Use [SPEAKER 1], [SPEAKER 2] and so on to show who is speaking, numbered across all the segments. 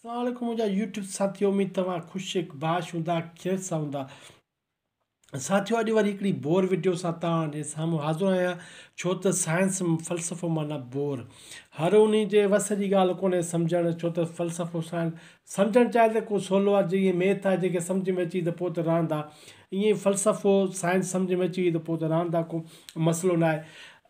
[SPEAKER 1] السلام عليڪم منهنجا يوٽيوب ساٿيو اميد توهان خوش باش هوندا خير سان هوندا ساٿيو اڄ وري هڪڙي بور وڊيو سان توهان جي سامهون حاضر آهيان ڇو ته سائنس فلسفو معنيٰ بور هر ان جي وس جي ڳالهه ڪونهي سمجهڻ ڇو ته فلسفو سائنس سمجهڻ چاهي ته ڪو سولو آهي جيئن ميٿ آهي جيڪي سمجهه ۾ اچي ته پوء ته راند آهي ائين فلسفو سائنس سمجهه ۾ اچي وئي ته پوء ته راند آهي ڪو مسئلو ناهي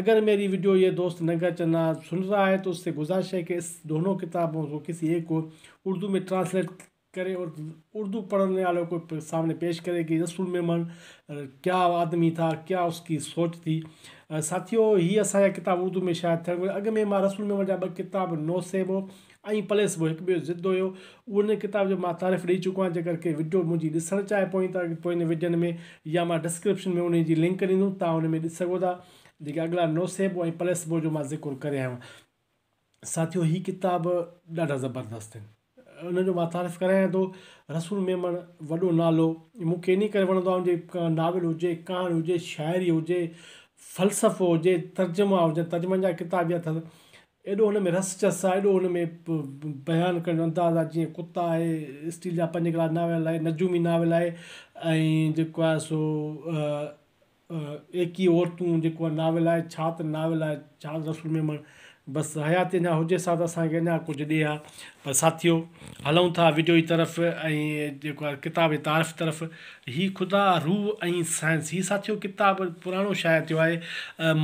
[SPEAKER 1] اگر ميري ويڊيو يي دوست ننگر چنا سن رها هي تو اس سي گزارش هي ڪي اس دونو ڪتابو ڪو ڪسي ايڪ ڪو اردو مي ٽرانسليٽ ڪري اور اردو پڙهني والو ڪو سامني پيش ڪري ڪي رسول ميمڻ ڪيا آدمي ٿا ڪيا اس ڪي سوچ ٿي ساٿيو هي اسان جا ڪتاب اردو مي شايع ٿيڻ گهرجي اڳ مي مان رسول ميمڻ جا ٻه ڪتاب نوسيبو ۽ پليس به هڪ ٻيو ضد هيو. اهو ان ڪتاب جو مان تعارف ڏئي چڪو آهيان جيڪر ڪي وڊيو منهنجي ڏسڻ چاهي پوين ته پوين وڊين ۾ يا مان ڊسڪرپشن ۾ انهي جي لنڪ ڏيندوم تان ان ۾ ڏسي سگهو ٿا جيڪي اڳلا نوسيبو ۽ پليسبو جو مان ذڪر ڪري آهيان ساٿيو هي ڪتاب ڏاڍا زبردست آهن ان جو مان تعارف ڪرايان ٿو رسول ميمڻ وڏو نالو مون کي انهي ڪري وڻندو آهي ان جي ناول هجي ڪهاڻي هجي شاعري هجي فلسفو هجي ترجما هجن ترجمن جا ڪتاب يا ايڏو ان ۾ رس چس آ، ايڏو ان ۾ بيان ڪرڻ جو انداز آ جيئن ڪتا آهي، اسٽيل جا پنج ڪلاس ناول آهي، نجومي ناول آهي ۽ جيڪو آهي سو ايڪيهه عورتون جيڪو آهي ناول آهي، ڇا ته ناول آهي، ڇا ته رسول ميمڻ بس حياتي اڃان هجيس ها ته اسان کي اڃان ڪجهه ڏي ها. پر ساٿيو هلون ٿا وڊيو جي طرف ۽ جيڪو آهي ڪتاب جي تعارف طرف هي خدا روح ۽ سائنس هي ساٿيو ڪتاب پراڻو شايع ٿيو آهي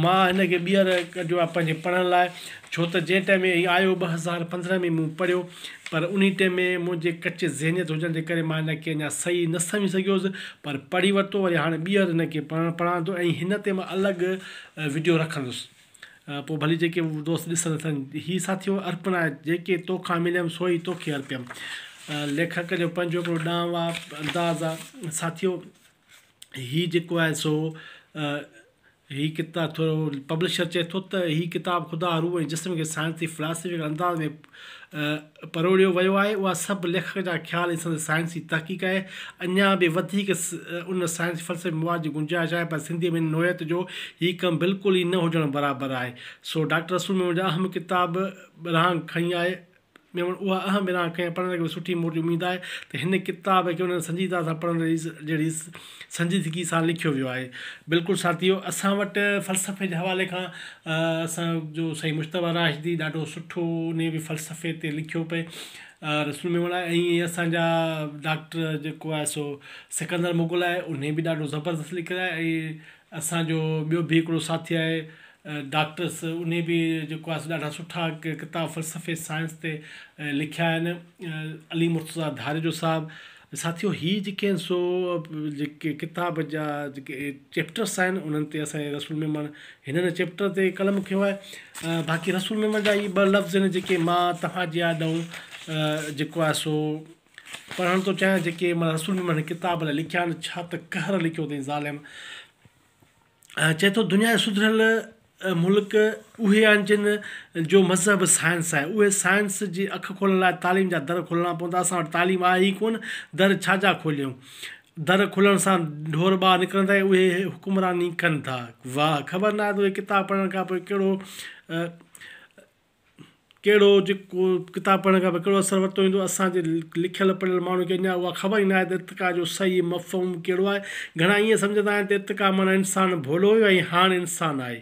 [SPEAKER 1] مان هن کي ٻيهر ڪڍيو آهي پنهنجي پڙهڻ لاء ڇو ته جنهن ٽائيم ۾ هي آيو ٻه هزار پندرهن ۾ مون پڙهيو پر انهي ٽائيم ۾ منهنجي ڪچي ذهنيت هجڻ جي ڪري مان هن کي اڃا صحيح نه سمجهي سگهيوس پر پڙهي ورتو وري هاڻي ٻيهر هن کي پڙهڻ پڙهان ٿو ۽ هن تي مان الڳ وڊيو رکندس پوء ڀلي جيڪي دوست ڏسن اٿن. هي ساٿيو ارپنا، جيڪي تو کان مليم سو ئي توکي ارپيم. ليکڪ جو پنهنجو هڪڙو ڏانهنوار انداز آ. ساٿيو هي جيڪو آهي سو هي ڪتا ٿورو پبلشر چئي ٿو ته هي ڪتاب خدا روح ۽ جسم کي سائنسي فلاسفيڪل انداز ۾ پروڙيو ويو آهي، اها سڀ ليکڪ جا خيال ۽ سندس سائنسي تحقيق آهي. اڃا به وڌيڪ ان سائنسي فلسفي مواد جي گنجائش آهي، پر سنڌيء ۾ ان نوعيت جو هي ڪم بلڪل ئي نه هجڻ برابر آهي. سو ڊاڪٽر رسول ميمڻ جا اهم ڪتاب ورهاڱ کڻي آئي. ميمڻ اها اهم ورهاڱ کڻي آئي، پڙهندڙن کي به سٺي موٽ جي اميد آهي ته هن ڪتاب کي انهن سنجيدگيء سان پڙهڻ جهڙي سنجيدگي سان لکيو ويو آهي. بلڪل ساٿيو اسان وٽ فلسفي جي حوالي کان اسان جو سائين مجتبيٰ راشدي ڏاڍو سٺو انهي به فلسفي تي لکيو پئي رسول ميمڻ آهي ائين اسان جا ڊاڪٽر جيڪو آهي سو سڪندر مغل آهي انهي به ڏاڍو زبردست لکيل آهي ۽ اسان جو ٻيو به هڪڙو ساٿي آهي ڊاڪٽر سو انهي به جيڪو آهي سو ڏاڍا سٺا ڪتاب فلسفي سائنس تي لکيا آهن علي مرتضيٰ ڌاريجو صاحب ساٿيو هي جيڪي آهن سو جيڪي ڪتاب جا جيڪي چيپٽرس آهن انهن تي اسانجي رسول ميمڻ هنن چيپٽر تي قلم کنيو آهي باقي رسول ميمڻ جا هي ٻه لفظ آهن جيڪي مان توهانجي آڏئون جيڪو آهي سو پڙهڻ ٿو چاهيان جيڪي مانا رسول ميمڻ هن ڪتاب لاء لکيا آهن ڇا ته قهر لکيو اٿئي ظالم چئي ٿو دنيا جا سڌريل ملڪ اهي آهن جن جو مذهب سائنس آهي اهي سائنس جي اک کولڻ لاء تعليم جا در کولڻا پوندا اسان وٽ تعليم آهي ئي ڪونه در ڇا جا کوليون در کولڻ سان ڍور ٻاهر نڪرندا ۽ اهي حڪمراني ڪن ٿا واهه خبر ناهي ته اهي ڪتاب پڙهڻ کان پوء ڪهڙو ڪهڙو جيڪو ڪتاب پڙهڻ کان پوء ڪهڙو اثر ورتو ويندو اسان جي لکيل پڙهيل ماڻهن کي اڃان اها خبر ئي ناهي ته ارتقا جو صحيح مفهوم ڪهڙو آهي گهڻا ائين سمجهندا آهن ته ارتقا معنيٰ انسان ڀولو هيو ۽ هاڻ انسان آهي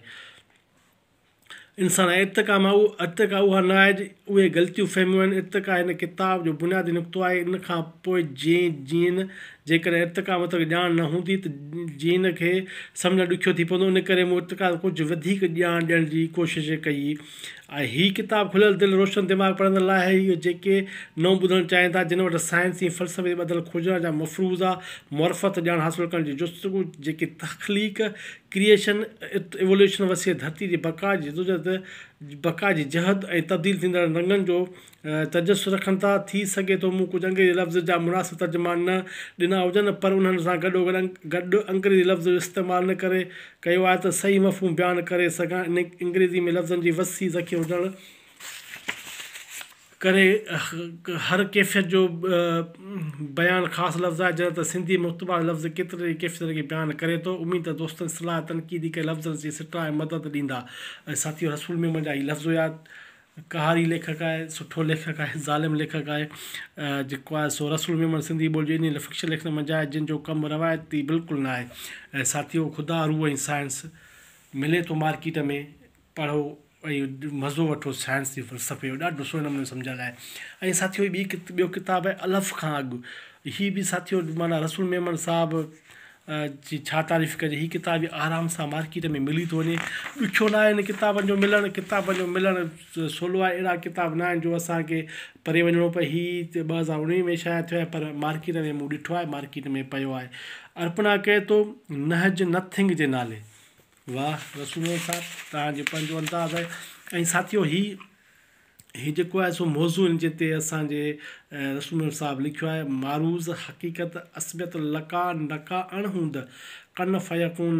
[SPEAKER 1] انسان آهي ارتقا مان ارتقا اها نه آهي اهي غلطيون فهميون آهن ارتقا هن ڪتاب جو بنيادي نقطو آهي ان کان پوء جين جين جيڪڏهن ارتقا متعلق ڄاڻ نه هوندي ته جين کي سمجهڻ ڏکيو ٿي پوندو، ان ڪري مون ارتقا تي ڪجهه وڌيڪ ڄاڻ ڏيڻ جي ڪوشش ڪئي آهي. هي ڪتاب کليل دل، روشن دماغ پڙهندڙن لاء آهي، اهي جيڪي نئون ٻڌڻ چاهين ٿا، جن وٽ سائنس ۽ فلسفي تي ٻڌل کوجنا جا مفروضا، معرفت، ڄاڻ حاصل ڪرڻ جي جستجو، جيڪي تخليق، Creation، Evolution، وسيع ڌرتي جي بقا جي جدوجهد، بقا جي جهد ۽ تبديل ٿيندڙن رنگن جو تجسس رکن ٿا. ٿي سگهي ٿو مون ڪجهه انگريزي لفظ جا مناسب ترجما نه ڏنا هجن پر انهن سان گڏوگڏ گڏ انگريزي لفظ جو استعمال ان ڪري ڪيو آهي ته صحيح مفهوم بيان ڪري سگهان. ان انگريزي ۾ لفظن جي وسيع ذخيرو هجڻ ڪري هر ڪيفيت جو بيان خاص لفظ آهي جڏهن ته سنڌي ۾ متبادل لفظ ڪيترن ئي ڪيفيتن کي بيان ڪري ٿو. اميد ته دوستن صلاح تنقيد ڪري لفظن جي سٽاء ۽ مدد ڏيندا ۽ ساٿيو رسول ميمڻ جا هي لفظ هيا قهاري ليکڪ آهي، سٺو ليکڪ آهي، ظالم ليکڪ آهي جيڪو آهي سو رسول ميمڻ سنڌي ٻوليء جو انهيء لاء فڪشن ليکڻ منجهه آهي جنهن جو ڪم روايتي بلڪل نه آهي ۽ ساٿيو خدا روح ۽ سائنس ملي ٿو مارڪيٽ ۾ پڙهو ۽ مزو وٺو سائنس جي فلسفي جو ڏاڍو سهڻي نموني سمجهايل آهي ۽ ساٿيو هي ٻي ڪت ٻيو ڪتاب آهي الف کان اڳ هي به ساٿيو معنيٰ رسول ميمڻ صاحب جي ڇا تعريف ڪجي هي ڪتاب به آرام سان مارڪيٽ ۾ ملي ٿو وڃي ڏکيو ناهي هن ڪتابن جو ملڻ ڪتابن جو ملڻ سولو آهي اهڙا ڪتاب ناهن جو اسانکي پري وڃڻو پئي هي ٻه هزار اڻويهه ۾ شايع ٿيو آهي پر مارڪيٽ ۾ مون ڏٺو آهي مارڪيٽ ۾ پيو آهي ارپنا ڪهي ٿو نهج نٿنگ جي نالي واه رسول صاحب توهان جو پنهنجو انداز آهي ۽ ساٿيو هي هي جيڪو آهي سو موضوع هن جي تي اسان جي رسول محمد صاحب لکيو آهي، معروض، حقيقت، عصبيت، لقاء، نقاء، اڻ هوند، ڪن فيڪون،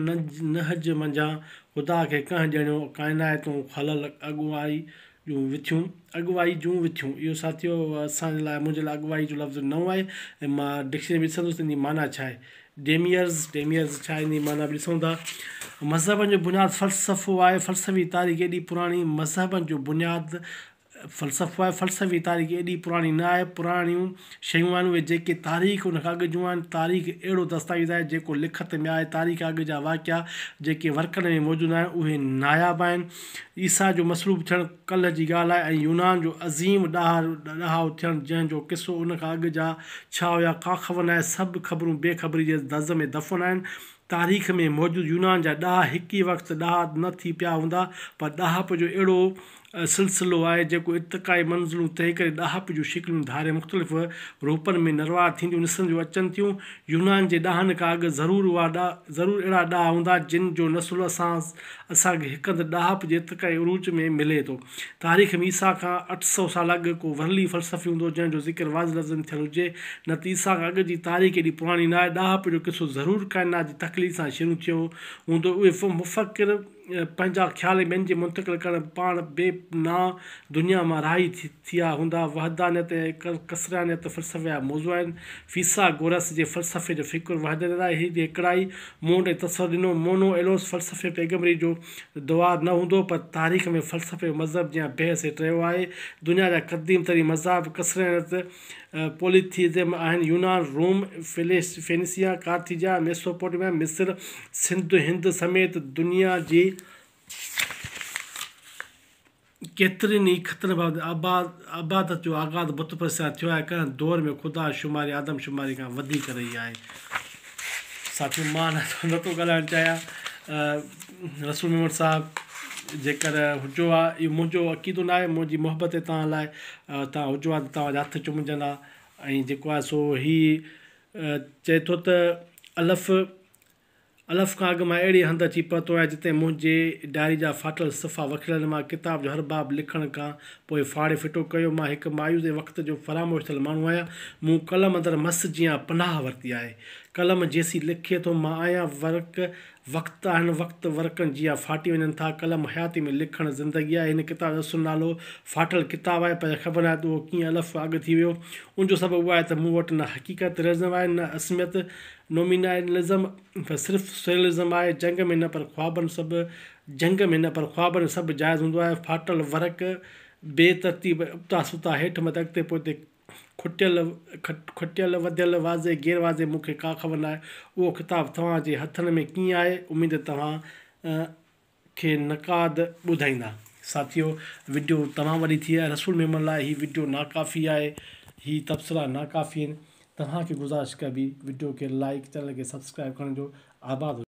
[SPEAKER 1] نهج منجهان خدا کي ڪنهن ڄڻيو، ڪائنائتون خلل، اڳوائي جون وٿيون، اڳواهي جون وٿيون، اهو ساٿيو اسان جي لاء منهنجي لاء اڳواهي جو لفظ نئون آهي ۽ مان ڊڪشنري ۾ ڏسندس ته ان جي معنيٰ ڇا آهي. ڊيميئرز، Demiers، ڇا آهن جي معنيٰ به ڏسون ٿا. مذهبن جو بنياد فلسفو آهي. فلسفي تاريخ ايڏي پراڻي مذهبن جو بنياد فلسفو آهي. فلسفي تاريخ ايڏي پراڻي نه آهي. پراڻيون شيون آهن اهي جيڪي تاريخ ان کان اڳ جون آهن. تاريخ اهڙو دستاويز آهي جيڪو لکت ۾ آهي. تاريخ کان اڳ جا واقعا جيڪي ورقن ۾ موجود آهن اهي ناياب آهن. عيسيٰ جو مصلوب ٿيڻ ڪلهه جي ڳالهه آهي ۽ يونان جو عظيم ڏاهو ٿيڻ جنهن جو قصو ان کان اڳ جا ڇا هيا ڪاخبر ناهي سڀ خبرون بي خبري جي دز ۾ دفن آهن تاريخ ۾ موجود يونان جا ڏاها هڪ ئي وقت ڏاها نه ٿي پيا هوندا پر ڏاهپ جو اهڙو سلسلو آهي جيڪو ارتقائي منزلون طئي ڪري ڏاهپ جون شڪليون ڌاري مختلف روپن ۾ نروار ٿينديون نسرنديون اچن ٿيون يونان جي ڏاهن کان اڳ ضرور اهڙا ڏاها هوندا جن جو نسل اسان اسان کي هڪ هنڌ ڏاهپ جي ارتقائي عروج ۾ ملي ٿو. تاريخ ۾ عيسيٰ کان اٺ سؤ سال اڳ ڪو ورلي فلسفي هوندو جنهن جو ذڪر واضح لفظن ۾ ٿيل هجي، نه ته عيسيٰ کان اڳ جي تاريخ ايڏي پراڻي ناهي، ڏاهپ جو قصو ضرور ڪائنات جي تخليق سان شروع ٿيو هوندو، اهي مفڪر پنهنجا خيال ٻين جي منتقل ڪرڻ پاڻ بي نا دنيا مان راهي ٿيا هوندا، وحدانيت ۽ ڪثريانيت فلسفي جا موضوع آهن، فيثاغورث جي فلسفي جو فڪر وحدانيت آهي، هڪڙائي، مون وٽ اتصر ڏنو مونو ايلوس فلسفي پيغمبري جو دوار نه هوندو پر تاريخ ۾ فلسفي و مذهب جيان بحث هيٺ رهيو آهي دنيا جا قديم ترين مذاهب ڪسرينت پوليٿيزم آهن يونان روم فينيسيا ڪارٿيجا ميسوپوٽيميا مصر سنڌ هند سميت دنيا جي ڪيترين ئي خطن بعد عبادت جو آغاز بت پرستي سان ٿيو آهي. ڪنهن دور ۾ خدا شماري آدم شماري کان وڌيڪ رهي آهي. ساٿيو مان نٿو ڳالهائڻ چاهيان رسول ميمڻ صاحب جيڪر هجو ها اهو منهنجو عقيدو ناهي منهنجي محبت هي توهان لاء توهان هجو ها ته توهان جا هٿ چمجن ها ۽ جيڪو آهي سو هي چئي ٿو ته الف الف کان اڳ مان اهڙي هنڌ اچي پهتو آهيان جتي منهنجي ڊائري جا ڦاٽل صفحا وکريل مان ڪتاب جو هر باب لکڻ کان پوء ڦاڙي ڦٽو ڪيو. مان هڪ مايوس ۽ وقت جو فراموش ٿيل ماڻهو آهيان. مون قلم اندر مس جيان پناهه ورتي آهي. قلم جيسين لکي ٿو مان آهيان. ورق وقت آهن، وقت ورقن جيان ڦاٽي وڃن ٿا. قلم حياتي ۾ لکڻ زندگي آهي. هن ڪتاب جو اصل نالو ڦاٽل ڪتاب آهي پر خبر ناهي ته اهو ڪيئن الف کان اڳ ٿي ويو. ان جو سبب اهو آهي ته مون وٽ نه حقيقت، Realism، آهي نه عصميت. نومينالزم ته صرف سريئلزم آهي، جنگ ۾ نه پر خوابن سڀ جنگ ۾ نه پر خوابن سڀ جائز هوندو آهي، ڦاٽل ورق، بي ترتيب ابتا ستا، هيٺ مٿي اڳتي پوئتي، کٽيل کٽيل وڌيل واضح غير واضح مون کي ڪا خبر ناهي اهو ڪتاب توهان جي هٿن ۾ ڪيئن آهي، اميد توهان کي نقاد ٻڌائيندا. ساٿيو وڊيو توهان واري ٿي آهي رسول ميمڻ لاء هي وڊيو ناڪافي آهي هي تبصرا ناڪافي آهن توهان کي گذارش ڪبي وڊيو کي لائيڪ چينل کي سبسڪرائيب ڪرڻ جو آباد هجو.